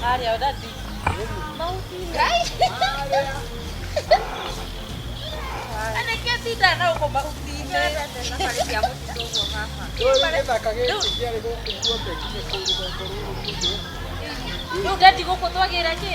Mario, daddy. Ana kia tinda na uko mahuti-inĩ. Rĩu daddy gũkũ twagĩra kĩ?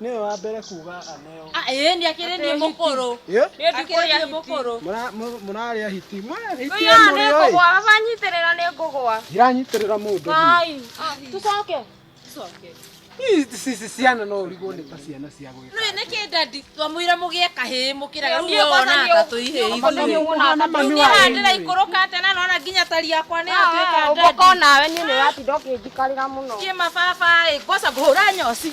Nĩwe wa mbere kuga aneo. Ah, ĩĩ nĩ akĩrĩ niĩ mũkũrũ. Ĩ? Nĩ ndikũrĩa hiti. Mũkũrũ. Mũra- mũ- Mũrarĩa hiti. Mũrarĩa hiti Ũyũ nĩ mũrĩ oi. ngũgwa, baba nyitĩrĩra nĩ ngũgwa. Iranyitĩrĩra mũndũ. Ai, ah, tũcoke. Tũcoke. Ici ici ciana no ũrigwo nĩ ta ciana cia gwĩka. Rĩu nĩ kĩ dadi twamwĩra mũgĩe kahĩĩ mũkĩra Nĩ- rĩu nĩ we ũgwatania wona ata ũguo. tũihĩĩ Nĩ ũgwatania ithuĩ. ũguo na mami Niĩ wanyu. haha ndĩraikũrũka atĩ na nona nginya tari yakwa nĩ yatuĩka Ũmboko dadi. nawe niĩ nĩ ũratinda ũkĩnjikarĩra mũno. Niĩ mababa ĩ, ngwaca ngũhũra nyoci.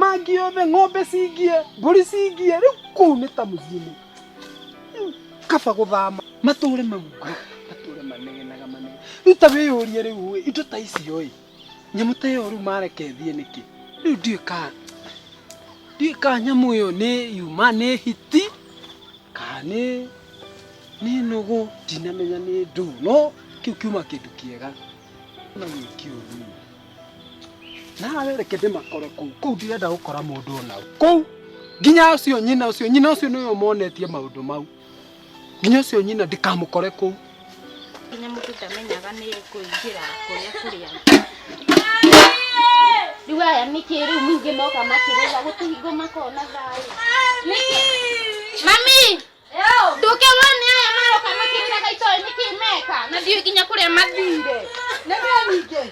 mangi othe ng'ombe cingie mbũri cingie rĩu kũu nĩ ta mũciĩ-inĩ Rĩu kaba gũthama matũre maugaga matũre manegenaga manege rĩu ta wĩyũrie rĩu ĩ indo ta icio ĩ nyamũ ta ĩyo rĩu mareke thiĩ nĩkĩ rĩu ndiũĩ ka ndiũĩ ka nyamũ ĩyo nĩ yuma nĩ hiti kana nĩ nĩ nũgũ ndinamenya nĩ ndũ no kĩu kiuma kĩndũ kĩega na wiki ũthiĩ nawe reke ndĩmakore kũu kũu ndirenda gũkora mũndũ ona ũ. kũu nginya ũcio nyina ũcio nyina ũcio nĩwe ũmonetie maũndũ mau nginya ũcio nyina ndikamũkore kũu nginya mũndũ ndamenyaga nĩ kũingĩra kũrĩa kũrĩa rĩu aya nĩkĩ rĩu ningĩ moka makĩrĩra gũtũhingo makona thayũ nĩkĩ mami ndũkĩrwo nĩ aya maroka makĩrĩraga itoĩ nĩkĩ meka na ndiũ nginya kũrĩa mathire nĩ kĩo ningĩ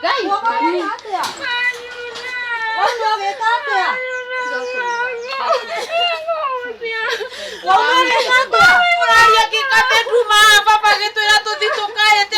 ngai mami Ũraria kĩkatĩ nduma baba gĩtwĩra tũthi tũkae te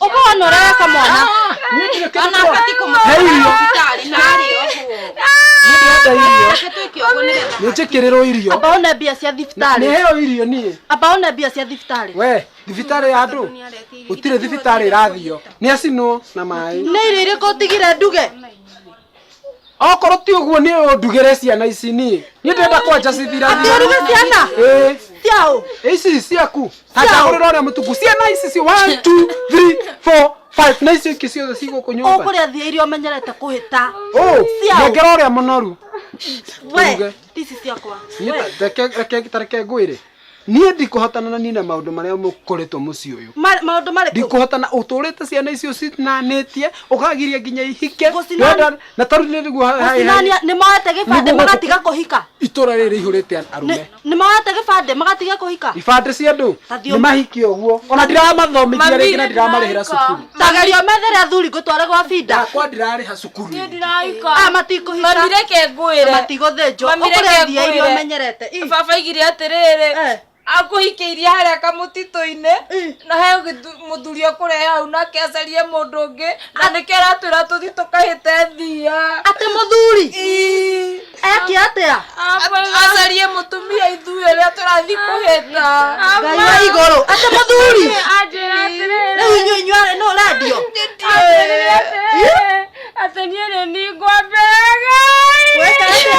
Uka wanorera kamwana. Ona abati kumuhũra thibitarĩ na arĩ ũguo. Reke twĩke ũguo nĩgetha nĩnjĩkĩrĩrwo irio Amba one mbia cia thibitarĩ. nĩheo irio niĩ Amba one mbia cia thibitarĩ. we thibitarĩ ya andũ gũtirĩ thibitarĩ ĩrathio nĩ acinwo na maĩ Nĩ irio irĩkũ ũtigire nduge? okorwo ti ũguo nĩ ũndugĩre ciana ici niĩ niĩ ndĩrenda kwanja cibira Atĩ ũruge ciana? Ciao. ici ciaku tangagũrĩra ũrĩa mũtungu ciana ici cio one, two, three, four, five na icio ingĩ ciothe ci gũkũ nyũmba Ũkũrĩa thia iria ũmenyerete kũhĩta. Oh, Ciao. nengera ũrĩa mũnoru We, Turuge. ici ciakwa. Niĩ We. ta- reke- reke- ta reke ngwĩre niĩ ndikũhotana na nina maũndũ marĩa mũkoretwo mũciĩ ũyũ Ma- maũndũ marĩkũ ndikũhotana ũtũrĩte ciana icio cinanĩtie ũkagiria nginya ihike Gũcinani- Ndwenda- na tarĩu nĩ nĩguo ha- ha- Gũcinania- nĩ moete gĩbandĩ Nĩguo magatiga kũhika itũra rĩrĩ rĩihũrĩte Nĩ- arũme nĩ moete gĩbandĩ magatiga kũhika ibandĩ cia andũ Ta thiũ- nĩ mahiki ũguo ona ndiramathomitia rĩngĩ na ndiramarĩhĩra cukuru Tagerio methere athuri ngũtware gwa binda. Yakwa ndirarĩha cukuru. Niĩ ndiraika. Ah, matikũhika. Mami reke ngwĩre. Na matigũthĩnjwo. Mami reke Ũkũrĩa iria iria ngwĩre. ũmenyerete. Ih. Baba aigire atĩrĩrĩ. Eh. akũhikĩirie harĩa kamũtitũ-inĩ na he gĩthu- mũthuri akũrehe hau nake acarie mũndũ ũngĩ na nĩkĩo aratwĩra tũthi tũkahĩte thia Atĩ mũthuri. Ii. eke atia acarie mutumia ithuĩ ũrĩa tũrathiĩ kũhĩta ngai wa igũrũ ate mũthuri rĩu inyuĩ inyuarĩ nũ rendio atĩ niĩ nĩ ningwambĩraga Weka atĩa?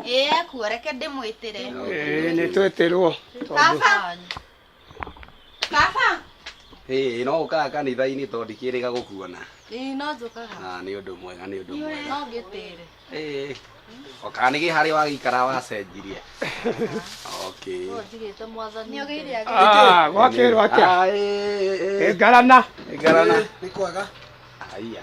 Ĩĩ ekuo, reke ndĩmwĩtĩre. Ĩĩ nĩ twĩtĩrwo. Baba! Baba! Ĩĩ no ũkaga kanitha-inĩ tondũ ndikĩrĩga gũkuona. Ĩĩ no njũkaga. Na nĩ ũndũ mwega, nĩ ũndũ mwega. No ngĩtĩre. Ĩĩ. O kana nĩ harĩa wagĩikara wacenjirie. Okay. No njigĩte mwathani. Nĩ ũgeire agĩtĩre. Ah, gwakĩrwo atĩa? Ah, ĩĩ, ĩĩ, ĩĩ. Ĩngarana. Ĩngarana. Nĩ kwega. Haiya.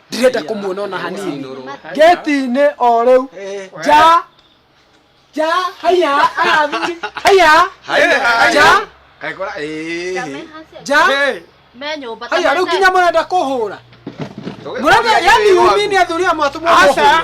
ndirenda kumuona ona hanini geti-inĩ o rĩu ja ja haiya arathuri haiya ja Kaigora eh. ja me nyũmba haiya rĩu nginya mũrenda kũhũra mũrenda yani umi nĩ athuri amwe atũmwo Aca. mũhũre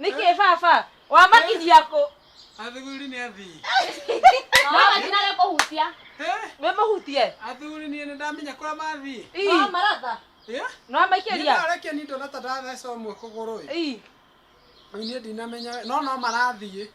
Nĩkĩ baba? Wamakinyia kũ? Athuri nĩ athii. No matinage kũhutia. Eh, Wĩmũhutie? Athuri niĩ nĩndamenya kũrĩa mathiĩ. Ii, No maratha. Eh, No niĩ maikĩria? ndarekia nĩ ndona ta ndatheca ũmwe kũgũrũ ĩ. Ii, Rĩu niĩ ndinamenya no no marathiĩ.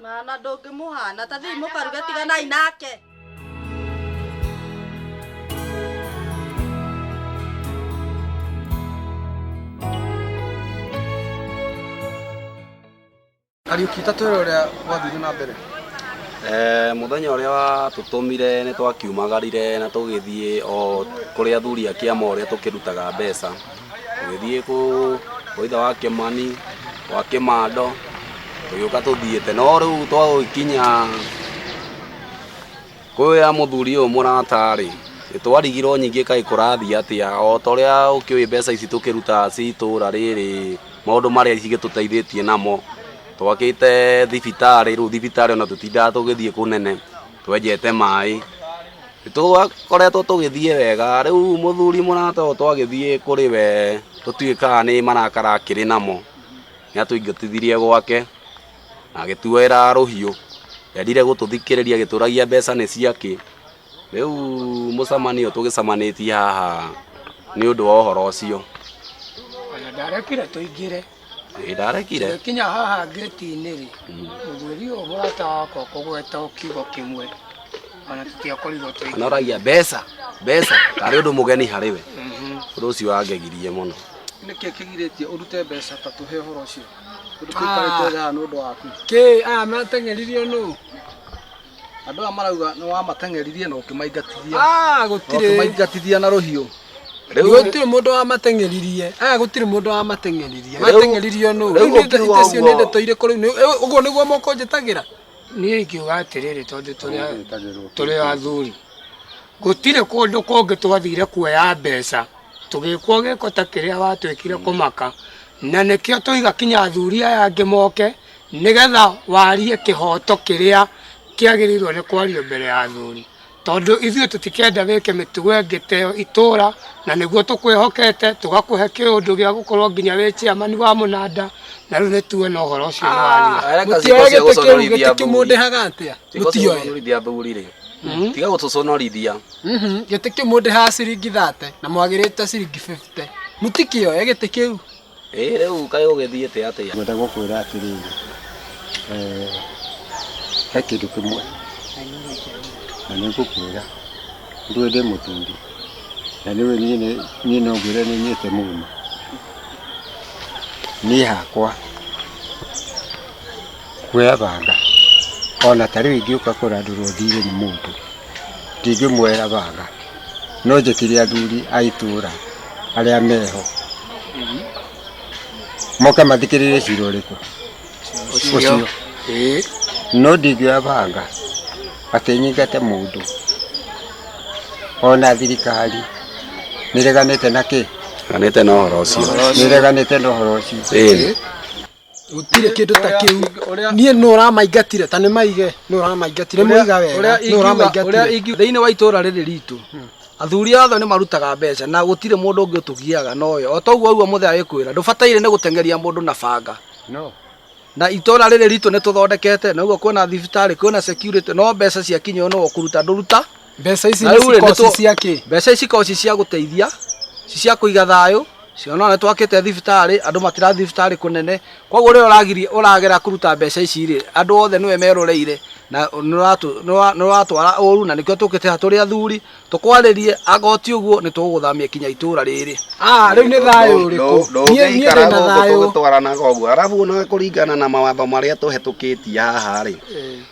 Mwana ndũngĩmũhana ta thiĩ mũkaruge tiganai nake. Kariuki ta twĩra ũrĩa gwathire na mbere Eh, muthenya uria watutumire ni twakiumagarire na tugithie o kuria athuri a kiama uria tukirutaga mbeca tũgĩthiĩ kũ waitha wa kĩmani wa kĩmando tũgĩũka tũthiĩte no rĩu twagũkinya kwĩya mũthuri ũyũ mũratarĩ nĩtwarigirwo nyingĩ kaĩ kũrathiĩ atĩa o ta ũrĩa ũkĩũĩ mbeca ici tũkĩrutaga ci itũra rĩrĩ maũndũ marĩa cigĩtũteithĩtie namo twakĩte thibitarĩ rĩu thibitarĩ ona tũtindaga tũgĩthiĩ kũnene twenjete maĩ nĩtwakoretwo tũgĩthiĩ wega rĩu mũthuri mũrata ũyũ twagĩthiĩ kũrĩ we tũtuĩkaga nĩ marakara akĩrĩ namo nĩatũingatithirie gwake na agĩtuoera rũhiũ ndendire gũtũthikĩrĩria agĩtũragia mbeca nĩ ciakĩ rĩu mũcemanio tũgĩcemanĩtie haha nĩ ũndũ wa ũhoro ũcio Ona ndarekire tũingĩre. ndarekire kinya haha ngĩti-inĩ rĩ mũthuri ũyũ mũrata wakwa kũgweta o kiugo kĩmwe ona tũtiakorirwo twĩ anoragia mbeca mbeca tarĩ ũndũ mũgeni harĩ we Mhm. ũndũ ũcio wangegirie mũno nĩkĩ kĩgirĩtie ũrute mbeca ta tũhe ũhoro ũcio tondũ tũikarĩte thaa nĩ ũndũ waku kĩ aya mateng'eririo nũ Andũ aya marauga nĩ wamateng'eririe na ũkĩmaingatithia. Ah, gũtirĩ. Ũkĩmaingatithia na rũhiũ. Rĩu gũtirĩ mũndũ wamateng'eririe. Aya gũtirĩ mũndũ wamateng'eririe. Mateng'eririo nũ? Rĩu ũkiuga ũguo. Nĩ ndeto irĩkũ rĩu? Ũguo nĩguo mũkũnjĩtagĩra? Niĩ ingiuga atĩrĩrĩ tondũ tũrĩ athuri. Gũtirĩ kũndũ kũngĩ twathire kuoya mbeca tũgĩkwo gĩko ta kĩrĩa watwĩkire kũmaka. Na nĩkĩo twauga kinya athuri aya angĩ moke. nĩgetha warie kĩhoto kĩrĩa kĩagĩrĩirwo nĩ kwario mbere ya athuri, tondũ ithuĩ tũtikenda wĩke mĩtugo ĩngĩ ta ĩyo itũra, na nĩguo tũkwĩhokete, tũgakũhe kĩũndũ gĩa gũkorwo nginya wĩ chairman wa mũnanda, na rĩu nĩ tuwe no ũhoro ũcio nĩ waria. Areka Mũtiũĩ ciĩko cia gĩtĩ kĩu, gũconorithia gĩtĩ athuri. kĩmũndĩhaga atĩa? Ciĩko cia Mũtiũĩ. gũconorithia athuri rĩ. Tiga gũtũconorithia. Mhm, gĩtĩ kĩu mũndĩhaga ciringi thate na mwagĩrĩte ciringi bĩbite. Mũtikĩoĩ gĩtĩ kĩu? Ĩĩ rĩu kaĩ ũgĩthiĩte atĩa? Ngwenda gũkwĩra atĩrĩrĩ, eh, he kĩndũ kĩmwe na nĩ ngũkwĩra ndũĩ ndĩ mũthuri na nĩũĩ niĩ nĩ- niĩ no ngwĩre nĩ nyĩte mũno niĩ hakwa kuoya banga ona ta rĩu ingĩũka kũrandũrwo thiirĩ nĩ mũndũ ndingĩmuoera banga no njĩkire athuri a itũra arĩa meho moke mathikĩrĩrie cira ũrĩkũ ũcio Eh, no ndingĩoya banga atĩ nyingate mũndũ ona thirikari nĩreganĩte na kĩ Ganĩte na ũhoro ũcio. ũhoro ũcio. nĩreganĩte na ũhoro ũcio Ĩĩ. gũtirĩ kĩndũ ta kĩu niĩ nũ ũramaingatire ta nĩ maige nũ ũramaingatire mũiga wega nũ ũramaingatire thĩinĩ wa itũra rĩrĩ ritũ hmm. athuri othe nĩ marutaga mbeca na gũtirĩ mũndũ ũngĩ ũtũgiaga nowe o toguo ũguo mũthee agĩkwĩra ndũbataire nĩ gũtengeria mũndũ na banga na itũra rĩrĩ ritũ nĩ tũthondekete na ũguo kwĩna thibitarĩ kwĩna security no mbeca ciakinya no kũruta ndũruta Mbeca ici Na nĩ rĩu-rĩ, cikoci nĩtũ- cia kĩ? mbeca ici ikoragwo ci cia gũteithia ci cia kũiga thayũ ciona nĩ twakĩte thibitarĩ andũ matirathiĩ thibitarĩ kũnene koguo rĩrĩa ũragiria ũragera kũruta mbeca ici rĩ andũ othe nĩwe meroreire na nĩ ũratũ- nĩ ũra- nĩ ũratwara ũru na nĩkĩo tũkĩte haha tũrĩ athuri tũkwarĩrie angorwo ti ũguo nĩ tũgũgũthamia kinya itũra rĩrĩ Ah, rĩu nĩ thayũ ũrĩkũ? Niĩ- niĩ ndĩ ndũngĩikara na gũkũ thayũ. tũgĩtwaranaga ũguo arabu ona kũringana na mawatho marĩa tũhetũkĩtie haha rĩ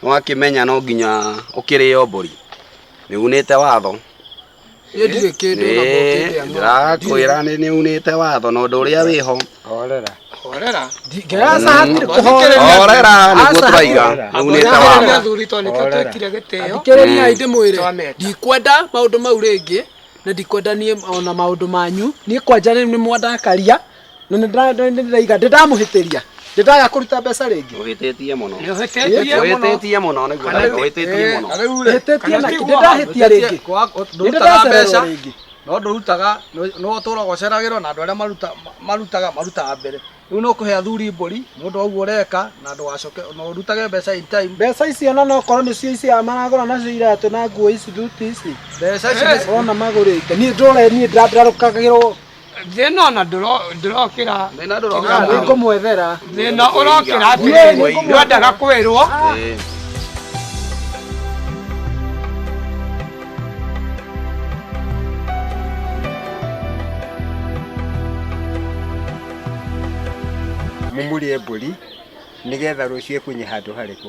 Nĩwakĩmenya no nginya ũkĩrĩo mbũri. Nĩunĩte watho. Niĩ ndirĩ kĩndũ ona mũngĩndĩa Ĩĩ, no. ndĩrakwĩra nĩ nĩunĩte watho na ũndũ ũrĩa wĩho. Horera. Horera. Ndingĩraca hatirĩ kũhorera. Horera nĩguo Aca, tũraiga. Nĩunĩte Athuri watho. na athuri tondũ nĩkĩo Horera. twekire gĩtĩo. Thikĩrĩria hĩndĩ mwĩrĩ. Twamenda. Ndikwenda maũndũ mau rĩngĩ na ndikwenda niĩ ona maũndũ manyu. Niĩ kwanja rĩu nĩmwandakaria. na nĩ ndĩra- nĩ ndĩraiga ndĩ ndamũhĩtĩria ndĩ ndaga kũruta mbeca rĩngĩ Ũhĩtĩtie mũno. Nĩũhĩtĩtie mũno. Ũhĩtĩtie mũno nĩguo Kana rĩu- ũhĩtĩtie eh, mũno. kana rĩu rĩ, Hĩtĩtie kana na ti kĩ- guo ndĩndahĩtia wahĩtĩtie, rĩngĩ. kwa- Nĩ ndũrutaga ndĩracererwo mbeca rĩngĩ. no ndũrutaga nĩ- nĩ ũtũraga ũceragĩrwo na andũ arĩa maruta- ma- marutaga marutaga mbere rĩu no kũhe athuri mbũri nĩ ũndũ wa ũguo ũreka na ndũgacoke na ũrutage mbeca in time mbeca icio na nokorwo nĩcio icio maragũra nacio iratũ na nguo ici thuti ici mbeca ici nĩ- ona magũrĩte niĩ ndũre niĩ ndĩra- ndĩrarũkagĩrwo thĩna ona ndũrokĩra nĩngũmwethera thĩna ũrokĩra atĩrĩrĩ ndwendaga kwĩrwo mumurie mbũri nĩgetha rũciũ ĩkunye handũ harĩkũ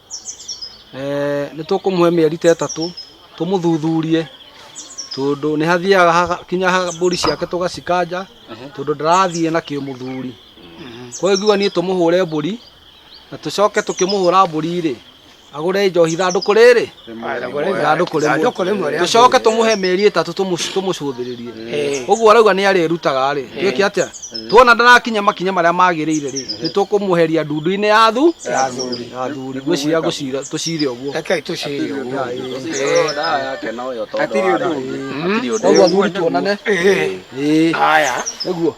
nĩ tũkũmũhe mĩeri ta ĩtatũ tũmũthuthurie tondũ nĩ hathiaga hakinya mbũri ciake tũgacikanja tondũ ndarathiĩ na kĩmũthuri. Koguo ingiuga niĩ tũmũhũre mbũri na tũcoke tũkĩmũhũra mbũri rĩ, agũre njohi ithandũkũ rĩrĩ? ithandũkũ Ithandũkũ rĩmwe rĩmwe rĩa tũcoke tũmũhe mĩeri ĩtatũ tũmũ- tũmũcũthĩrĩrie Eh. ũguo arauga nĩ arĩrutaga rĩ twĩke atĩa tuona ndarakinya makinya marĩa magĩrĩire rĩ nĩ tũkũmũheria ndundu-inĩ ya thu Ya athuri. ya athuri ngwĩciria ngũcira tũcire ũguo Rekei tũcire ũguo. Hatirĩ ũndũ ũngĩ. Hatirĩ ũndũ ũguo ũngĩ. athuri tuonane Ĩĩ. Ĩĩ. Haya. nĩguo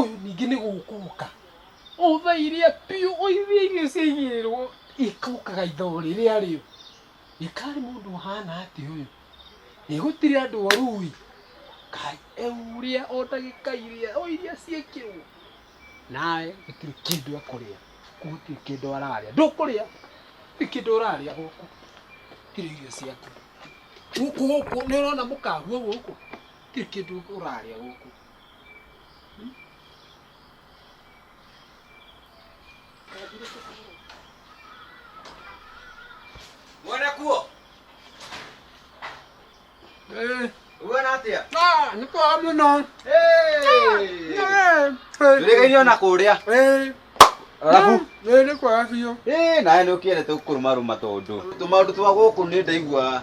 Ũyũ ningĩ nĩ gũkũka. Ũtha iria biũ, ũithie irio ciaigĩrĩrwo ikũkaga ithoo rĩrĩa rĩo. Gĩkari mũndũ ũhana atĩa ũyũ? Ĩ gũtirĩ andũ oru ĩ? Kai, ũrĩa o ndagĩka iria, o iria ciekĩrwo. Nawe gũtirĩ kĩndũ ekũrĩa, gũkũ gũtirĩ kĩndũ ararĩa. Ndũkũrĩa? Gũtirĩ kĩndũ ũrarĩa gũkũ. Gũtirĩ irio ciaku. Gũkũ gũkũ nĩũrona mũkahuo gũkũ? Gũtirĩ kĩndũ ũrarĩa gũkũ. Mwene kuo, Eh, uona atĩa? ah, nĩ kwega mũno. Hey! Eh, Ndũrĩgainio na kũrĩa. eh, Arabu. eh, nĩ kwega biũ. Eh, nawe nĩ ũkĩendete gũkũrũmarũma tondũ. Tũmaũndũ twa gũkũ nĩ ndaigua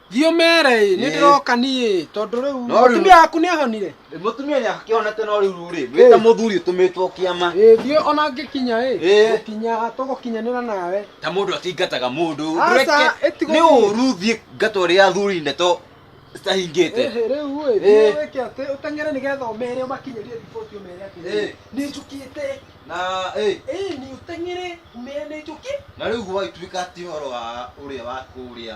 Thiĩ ũmere ĩ, nĩ Ĩ. ndĩroka niĩ ĩ, tondũ rĩu No rĩu- mũtumia waku nĩ ahonire. Mũtumia nĩ akĩhonete no rĩu rĩ, wĩ ta Ĩ. mũthuri ũtũmĩtwo kĩama. Ĩ, thiĩ ona ngĩkinya ĩ, Ĩ. gũkinya tũgũkinyanĩra nawe. Ta mũndũ atingataga mũndũ. Aca, Ndũreke ĩtigwo nĩ thiĩ. ũru thiĩ ngata ũrĩa athuri ndeto citahingĩte. Ĩhĩ, rĩu ĩ, Ĩ. thiĩ wĩke atĩ, ũteng'ere nĩgetha ũmere ũmakinyĩrie riboti ũmere atĩ Ĩ. nĩ njũkĩte. Na ĩ, Ĩ, nĩ ũteng'ere ũmere nĩ njũkĩ. na rĩu gwagĩtuĩka ti ũhoro wa ũrĩa wa kũrĩa